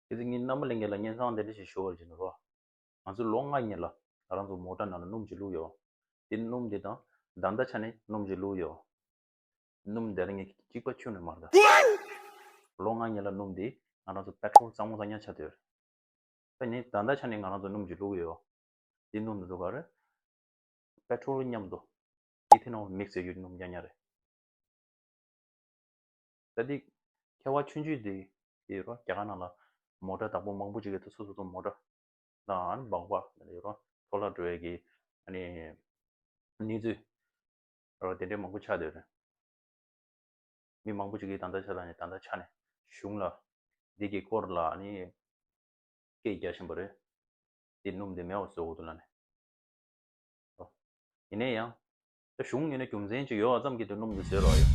གལ་ཏེ་ངས་རྣམ་པ་གླིང་ག་ལ་བསྙེན་བཟང་དེ་འདྲ་ཞིག་ཞུ་བར་བྱེད་ནུས་པ། ང་ཚོས་ལོ་ལྔ་གཉིས་ལ་ང་རང་ཚོ་མོ་ཏྲ་ནང་ལ་སྣུམ་གྱི་བླུགས་ཡོད། དེ་སྣུམ་དེ་དང་བདག་འདྲ་ཆ་ནས་སྣུམ་གྱི་བླུགས་ཡོད། སྣུམ་དེར་ངས་གཅིག་པ་ཁྱུ་ནས་མར་བདའ། ལོ་ལྔ་གཉིས་ལ་སྣུམ་དེས་ང་རང་ཚོ Petrol གཙང་མོ་གཙང་ཉག་ཆ་དོད། པེ་ནི་བདག་འདྲ་ཆ་ནས་ང་རང་ཚོ་སྣུམ་གྱི་བླུགས་ཡོད། དེ་སྣུམ་འདི་ཚོ་ག་རེད། Petrol མཉམ་དུ Ethanol Mix བྱས་ཡོད་སྣུམ་ཉག་ཉག་རེད། ད་འདི་ཁ་བ་ཆུང་ཆུང་འདི་ཡི་རོ་རྒྱ་གར་ནང་ལ་མོ་ཏྲ་དང་པོ་མང་པོ་ཅིག་གི་སོ་སོ་སོ་མོ་ཏྲ་དང་འབངས་པ་ཡི་རོ་ལྷོ་ལྷ་འགྲོ་བའི་གི་ནི་གནས་ཚུལ་རོ་དེ་འདྲའི་མང་པོ་ཆགས་འདོད་རེད། མི་མང་པོ་ཅིག་གིས་ད་ལྟ་ཆགས་ལ་ནི་ད་ལྟ་ཆགས་ནས་གཞུང་ལ་འདི་གི་སྐོར་ལ་ནི་སྐད་རྒྱག་བཞིན་པ་རེད། འདི་སྣུམ་འདི་མེ་བ་བཟོ་དགོས་འདུག་ལ་ནི། ཡིན་ན་ཡང་གཞུང་གཉིས་ནི་རྒྱུ་མཚན་གཅིག་ཡོད་ཙམ་གྱིས་དུས་སྣུམ་འདི་བཟོས་རོགས་ཡོད།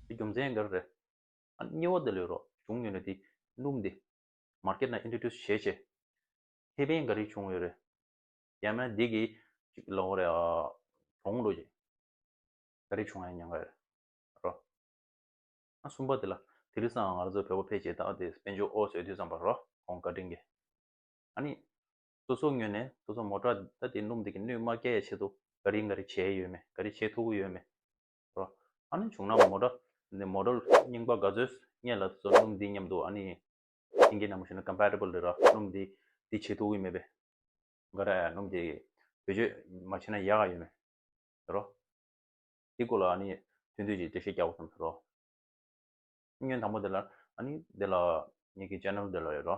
དེ་རྒྱུ་མཚན་འགལ་རེད། སྙི་བ་འདི་ལོས་རོགས་གཞུང་གཉིས་ནི་དེ་སྣུམ་འདི། Market ན Introduce བྱས་རྗེས། ཁེ་ཕན་འགའ་རེ་བྱུང་ཡོད་རེད། ཡང་ན་འདི་གིས་ཅིག་གི་ལོགས་རེད། གྲོང་འགྲོ་རྗེས། འགའ་རེ་བྱུང་ཡང་ཉན་ག་རེད་རོགས། གསུམ་པ་འདི་ལ་དེ་རིང་སང་ང་ཚོ་བོད་པ་ཕལ་ཆེར་དག་འདི་དཔེ་འཇོག་ཨོ་བཟོས་དུས་ཙམ་པ་རོགས་གོང་བཀའ་དྲིན་གྱིས། ཨ་ནི། སོ་སོ་ངོས་ནས་སོ་སོ་མོ་དྲག་ད་དེ་སྣུམ་དེ་གི་སྣུས་དམར་སྐྱའི་ཆེད་དུ་ག་རི་འགའ་རི་བྱས་ཡོད་མེད་ག་རི་བྱེད་ཐུག་གི་ཡོད་མེད་རོ། ཨ་ནི་བྱུང་ན་མོ་དྲག་ནི་མོ་དྲོ་རྙིང་པ་ག་ཚོས་རྙེད་ལ་སོ་སྣུམ་འདི་མཉམ་དུ་ཨ་ནི་ཤིང་གི་ནང་མ་ཞུ་ན Compatible རེད་ར་སྣུམ་འདི་འདི་བྱེད་ཐུག་གི་མེད་པས་འགའ་ར་སྣུམ་དེ་བེད་སྤྱོད་མ་བྱེད་ན་ཡག་ག་ཡོད་མེད་རོ། དེ་སྐོར་ལ་ཨ་ནི་ཐུན་བསྡུས་ཀྱི་འགྲེལ་བཤད་རྒྱག་པ་ཙམ་རོ། བསྙོན་དང་པོ་དེ་ལ་ཨ་ནི་དེ་ལ་ཉིད་ཀྱི Channel དེ་ལ་རེད་རོ།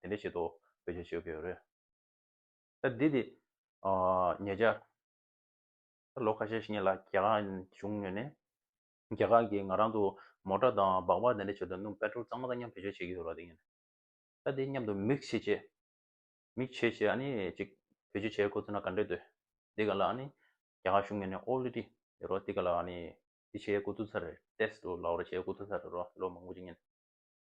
དེ་འདྲའི་ཆེད་དུ་བེད་སྤྱོད་བྱེད་དགོས་རེད། ད་འདི་དེ་ཉེ་ཆར། ད་ལོ་ཁ་ཤས་ཤིག་ལ་རྒྱ་གར་གཞུང་ངོས་ནས། རྒྱ་གར་གྱིས་ང་རང་དུ་མོ་ཏྲ་དང་སྦག་སྦག་དེ་འདྲའི་ཆེད་དུ་སྣུམ་པད་ཀྲོལ་གཙང་མ་དང་མཉམ་བེད་སྤྱོད་བྱེད་ཀྱི་ཡོད་རོགས་དེ། ད་དེ་མཉམ་དུ་མིག་བྱེད་ཆེད། མིག་བྱེད་ཆེད་ཨ་ནི་ཅིག་བེད་སྤྱོད་བྱེད་དགོས་ཚུལ་ན་ག་འདྲས་འདོད། འདི་ག་ལ་ཨ་ནི་རྒྱ་གར་གཞུང་ངོས་ནས་ཨོ་ལི་ཏི་ཡོད་རོགས་འདི་ག་ལ་ཨ་ནི་འདི་བྱེད་དགོས་ཐུག་ཚར་རེད། Test། ལག་རོགས་བྱེད་དགོས་ཐུག་ཚར་རེད་རོགས་ལོ་མང་པོ་ཅིག་ཉིན།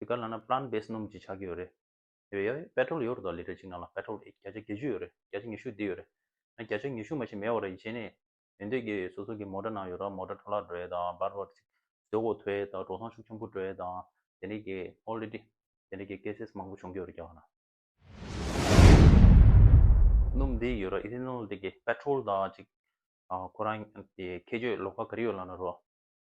དེ་ག་ལ་ན Plant Based སྣུམ་གྱི་ཆ་རྒྱུས་ཡོད་རེད། ཡོད་ཡ་ཡོད Petrol ཡོད་རེད་དོ་ལི་ཁྲ་གཅིག་ནང་ལ Petrol བརྒྱ་ཆ་བརྒྱད་ཅུ་ཡོད་རེད་བརྒྱ་ཆ་ཉི་ཤུ་འདི་ཡོད་རེད། ན་བརྒྱ་ཆ་ཉི་ཤུ་མ་གཞི་མེད་བ་རེད་གཞན་ནས་ཡོད་འདོད་རྒྱ་ཡོད་སོ་སོ་གི་མོ་ཏྲ་ནང་ཡོད་ར་མོ་ཏྲ་འཕྲོ་བརླག་འགྲོ་ཡས་དང་སྦར་བར་ཚིག་ཟོས་གོ་ཐོས་ཡས་དང་གྲོ་སང་ཤུགས་ཆེན་པོ་འགྲོ་ཡས་དང་དེ་འདྲའི་གྱི Already དེ་འདྲའི་གྱི Cases མང་པོ་བྱུང་གྱི་ཡོད་རེད་རྒྱ་བ་ན། སྣུམ་འདི་ཡོད་ར Ethanol དེ་གི Petrol དང་གཅིག་ཁོ་རང་གི་ཁྱད་ཆོས་ལོགས་ཀ་ག་རེ་ཡོད་ལ་ན་རོ།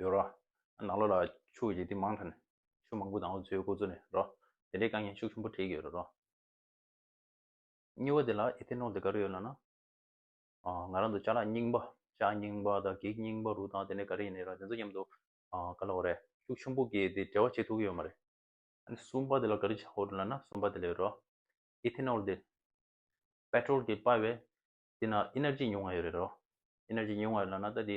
ཡོད་རོ། ནགས་ལོ་ལ་ཕྱུགས་ཀྱི་དེ་མང་ཐ་ནས། ཕྱུགས་མང་པོ་དང་འོ་ཆུའི་ཁུག་ཚུར་ནས་རོ། དེ་འདྲའི་བཀའ་ཉན་ཤུགས་ཆེན་པོ་བྲིས་ཀྱི་ཡོད་རོ། སྙི་བ་དེ་ལ་ཨི་ཐེ་ནོ་དེ་ག་རེ་ཡོད་ལ་ན། ང་རང་དུ་ལྕགས་ལ་རྙིང་པ། ལྕགས་རྙིང་པ་དང་གེགས་རྙིང་པ་རུ་དང་དེ་འདྲ་ག་རེ་ཡིན་ནི་ར་དེ་ཚོ་མཉམ་དུ་ག་ལ་འོ་རེ། ཤུགས་ཆེན་པོ་གིས་དེ་བྲལ་བ་བྱེད་ཐུབ་ཀྱི་ཡོད་མ་རེད། སུམ་པ་དེ་ལ་ག་རེ་བྱ་འོ་རུ་ལ་ན་སུམ་པ་དེ་ལ་ཡོད་རོ། ཨི་ཐེ་ནོལ་དེ། པེ་ཏྲོལ་གྱི་དཔའ་བས། དེ་ན་ཨི་ནེར་ཇི་ཉུང་བ་ཡོད་རེད་རོ། ཨི་ནེར་ཇི་ཉུང་བ་ཡོད་ལ་ན་ད་དེ།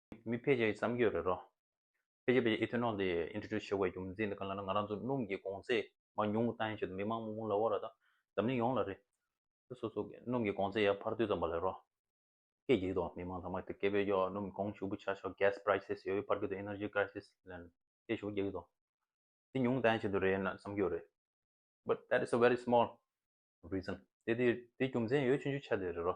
མི་ཕལ་ཆེར་གྱི་བསམ་སྐྱོ་རེད་རོ། ཕལ་ཆེར་ཕལ་ཆེར་ཨི་ཐོན་ནོ་འདི Introduce བྱེད་དགོས་རྒྱུ་མི་འཛིན་འདི་ག་ལ་ན་ང་རང་ཚོ་སྣུམ་གྱི་གོང་ཚད་མང་ཉུང་གི་ལྟ་ཡང་བྱོས་དང་མི་མང་མུག་མུག་ལ་བོར་ར་དང་འཛམ་གླིང་ཡོངས་ལ་རེད། ད་སོ་སོ་གི་སྣུམ་གྱི་གོང་ཚད་ཡར་འཕར་དུས་ཙམ་པ་ལས་རོ། སྐད་བགྱིད་དོ་མི་མང་ཚང་མ་དེ་སྐད་བོས་ཀྱོ་སྣུམ་གྱི་གོང་ཞུགས་པོ་ཆག་ཆོག Gas Prices ཡོད་ཡོད་འཕར་གྱི་འདུག Energy Crisis ལན་སྐད་ཞུགས་བགྱིད་གྱི་འདུག་འདི་ཉུང་ལྟ་ཡང་བྱེད་དུ་རེད་ན་བསམ་སྐྱོ་རེད། But that is a very small reason དེ་དེ་རྒྱུ་མཚན་ཡོད་ཆུང་ཆུང་ཆ་དེ་རེད་རོ།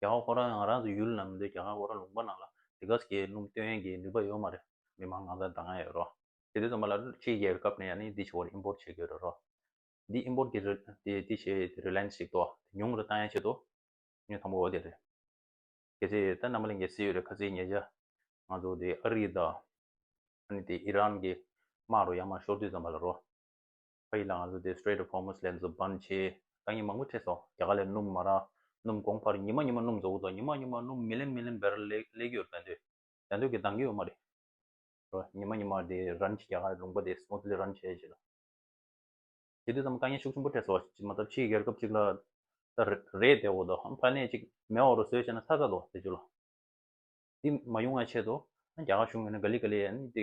རྒྱ་གར་ཁོ་རང་ཡང་ང་རང་ཚོའི་ཡུལ་ནང་མི་འདུག་རྒྱ་གར་ཁོ་རང་ལུང་པ་ནང་ལ་དེ་ག་ཟེ་གའི་སྣུམ་སྟོན་ཡན་གྱི་ནུས་པ་ཡོད་མ་རེད། མི་མང་གང་སར་ད་ང་ཡོད་རོགས། དེ་དོན་ཚང་མ་ལ་ཕྱི་རྒྱལ་བའི་སྐབས་ནས་ཡང་ནི་འདི་ཕྱི་བར་ཨིན་པོར་བྱེད་དགོས་རེད་རོགས། འདི་ཨིན་པོར་གྱི་རེད་དེ་དེ་ཕྱི་དེ་རེ་ལན་ཞིག་ཏོག་དེ་ཉུང་རེ་ཏང་ཡན་ཆེད་དུ་ངས་དང་པོ་བ་དེ་རེད། གལ་སྲིད་ད་མནའ་མ་ལས་འགལ་སྲིད་ཡོད་རེ་ཁ་ཚིག་ཉེ་བྱ། ང་ཚོ་དེ་ཨ་རི་དང་ཨ་ནི་དེ་ཨི་རན་གྱི་དམག་རུ་ཡང་མ་ཤོར་དུས་ཙམ་པ་ལ་རོགས། ཕ་ཡིས་ལ་ང་ཚོ་དེ Strait of Hormuz ལས་འཛུབ་བསྒམ་བྱས། ཏང་ཡིན་མང་པོ་ཁྲིད་སོང་རྒྱ་གར་ལས་སྣུམ་མ་རག་སྣུམ་དགོངས་ཕར་ཉི་མ་ཉི་མ་སྣུམ་བཟོ་གོ་ཚོ་ཉི་མ་ཉི་མ་སྣུམ་མི་ལེན་མི་ལེན་བེར་ལེགས་རྒྱུ་རེད་འདོད་རྒྱ་འདོད་ཀྱི་སྡང་གི་ཡོད་མ་རེད་རོ་ཉི་མ་ཉི་མ་དེ་རན་གྱི་རྒྱ་གར་ལུང་པ་དེ Smoothly རན་བྱས་བྱས་ལ་དེ་དུས་ཙམ་དཀའ་ངལ་ཤུགས་ཆེན་པོ་ཁྲིད་སོང་ཅི་མ་ཐབས་ཕྱིའི་རྒྱལ་ཁབ་ཅིག་ལ་ད་རེད་དེ་འོག་ཏུ་ཧམ་ཕ་ནད་ཅིག་མེ་འོག་རུ་ཟོས་བྱས་ན་ཚ་ཚ་དོ་དེ་ཅུ་ལ་དེ་མ་ཡོང་བའི་ཆེད་དུ་རྒྱ་གར་གཞུང་ཡོང་ན་ག་ལི་ག་ལི་ཨ་ནི་དེ་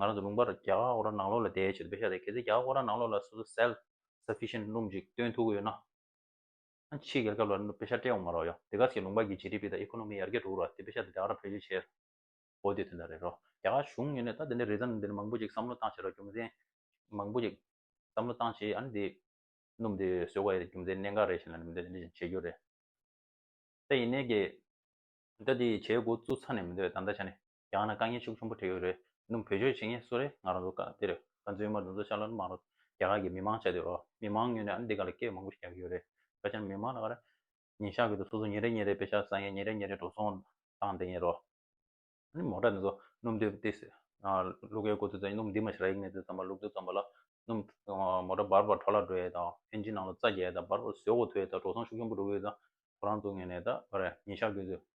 ང་རང་ཚོ་ལུང་པ་ར་རྒྱ་གར་ཨོ་ར་ནང་ལོགས་ལ་བསྡད་ཡོད་ཆེད་དུ་བེད་ཤ་ཟེར་གལ་སྲིད་རྒྱ་གར་ཨོ་ར་ནང་ལོགས་ལ་སོ་སོ self sufficient སྣུམ་ཅིག་སྟོན་ཐུབ་གི་ཡོད་ན། ཨ་ཕྱིའི་རྒྱལ་ཁབ་ལ་ནུབ་བེད་ཤ་སྤྲད་འོང་མ་རོགས་ཡ། དེ་ག་ཟེ་ལུང་པ་གི་ཇི་ཏི་པི་དང་ཨེ་ཁོ་ནོ་མི་ཡར་རྒྱས་འགྲོ་རོགས་ཨ་དེ་བེད་ཤ་དེ་རྒྱ་གར་ལ་བེད་སྤྱོད་བྱེད་རོགས། འོ་དེ་དོན་དག་རེད་རོགས་རྒྱ་གར་གཞུང་ཡོད་ནས་ད་དེ་འདྲའི་རེས་གཟའ་འདི་འདྲ་མང་པོ་ཅིག་བསམ་བློ་བཏང་བྱེད་རོགས་རྒྱུ་མཚན། མང་པོ་ཅིག་བསམ་བློ་བཏང་བྱེད་ཨ་ནི་དེ། སྣུམ་དེ་བཟོས་ག་ཡེ་རེད་རྒྱུ་མཚན་གནད་འགག་རེད་བྱེད་ན་མི་འདོད་དེ་འདྲ་ཅིག་བྱེད་རྒྱུ་རེད། ད་ཡིན་ནའི་གི། ད་དེ་བྱེད་འགོ་བཙུགས་ཚར་ནས་མི་འདོད་ད་ད་ཆ་ནས། རྒྱང་ན་དཀའ་ངལ་ཤུགས་ཆུང་པོ་འཕྲད་ཡོད་རེད་འདུག་བོད་ཆོས་བྱེད་ངེས་སུ་རེད་ང་རང་ཚོ་སྐབས་དེར་ཁ་མཚོན་དམར་འདུག་མཚོ་ཤར་ལ་མང་རོགས་རྒྱ་གར་གྱི་མི་མང་ཆ་དེ་རོགས་མི་མང་ངོས་ནས་ཨ་འདི་ག་ལ་སྐད་མང་པོ་ཞིག་རྒྱག་གི་ཡོད་རེད་ཁ་བྱང་མི་མང་ལ་ཁ་ར་ཉིན་ཤག་གི་དུ་སོ་སོ་ཉིན་རེ་ཉིན་རེ་དཔེ་ཤག་བཟང་ཡས་ཉིན་རེ་ཉིན་རེ་འགྲོ་སོང་བཏང་བསྡད་ཡིན་རོགས། ཨ་ནི་མོ་དྲ་འདི་ཚོ་སྣུམ་དུད་བསྟི་ཟེར། གླུ་གའི་གོ་ཚུལ་ཙམ་ཡིན་སྣུམ་འདི་མ་ཤི་ར་ཡིག་མེད་དུ་ཙམ་པ་ལུག་རྫི་ཙམ་པ་ལ་སྣུམ། མོ་དྲ་འབར་བར་འཕྲོ་བརླག་འགྲོ་ཡས་དང་ཕན་ཆིན་ནང་ལ་རྩ་རྒྱས་ཡས་དང་འབར་བར་ཟོས་འོག་འཐུ་ཡས་དང་འགྲོ་སོང་ཤུགས་ཆུང་པོ་འགྲོ་གི་ཡོད་ཙང་ཁོ་རང་ཚོ་ངོས་ནས་ད་ཁ་ར་ཉིན་ཤག་གི་དུ་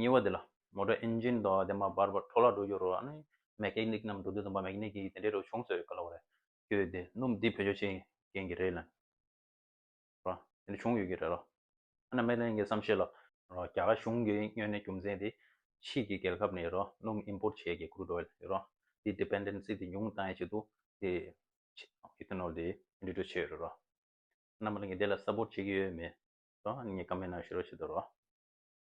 ཉེ་བ་འདི་ལ་མོ་ཏོར་ཨེན་ཇིན་དང་དེ་མ་འབར་བར་འཕྲོ་བརླག་འགྲོ་རྒྱུར་མེ་ཀེ་ནིག་རྣམས་འགྲོ་དུས་དང་པ་མེ་ཀེ་ནིག་གིས་དེ་འདྲའི་རོ་བྱུང་ཚོད་ག་ལ་བ་རེད་ཀྱོ་དེ་སྣུམ་འདི་བེད་སྤྱོད་བྱེད་མཁན་གྱི་རེད་ལན། ར། དེ་འདྲ་བྱུང་ཡོད་ཀྱི་རེད་ར། ཨ་ན་མེ་ལན་གྱི་བསམ་ཤེས་ལ། ར། རྒྱ་གར་གཞུང་གིས་སྨྱོན་ནད་རྒྱུ་མཚན་དེ་ཕྱིས་ཀྱི་རྒྱལ་ཁབ་ནས་ར་སྣུམ import བྱས་ཀྱི crude oil རེད་ར། དེའི dependency དེ་ཉུང་བཏང་ཡའི་ཆེད་དུ་དེ ethanol དེ་འདྲི་གྲོས་བྱས་ཡོད་རེད་ར། ཨ་ན་མེ་ལན་གྱིས་དེ་ལ support བྱེད་ཀྱི་ཡོད་མེད་ར་ངས comment ཞུ་རོགས་བྱེད་དོ་ར།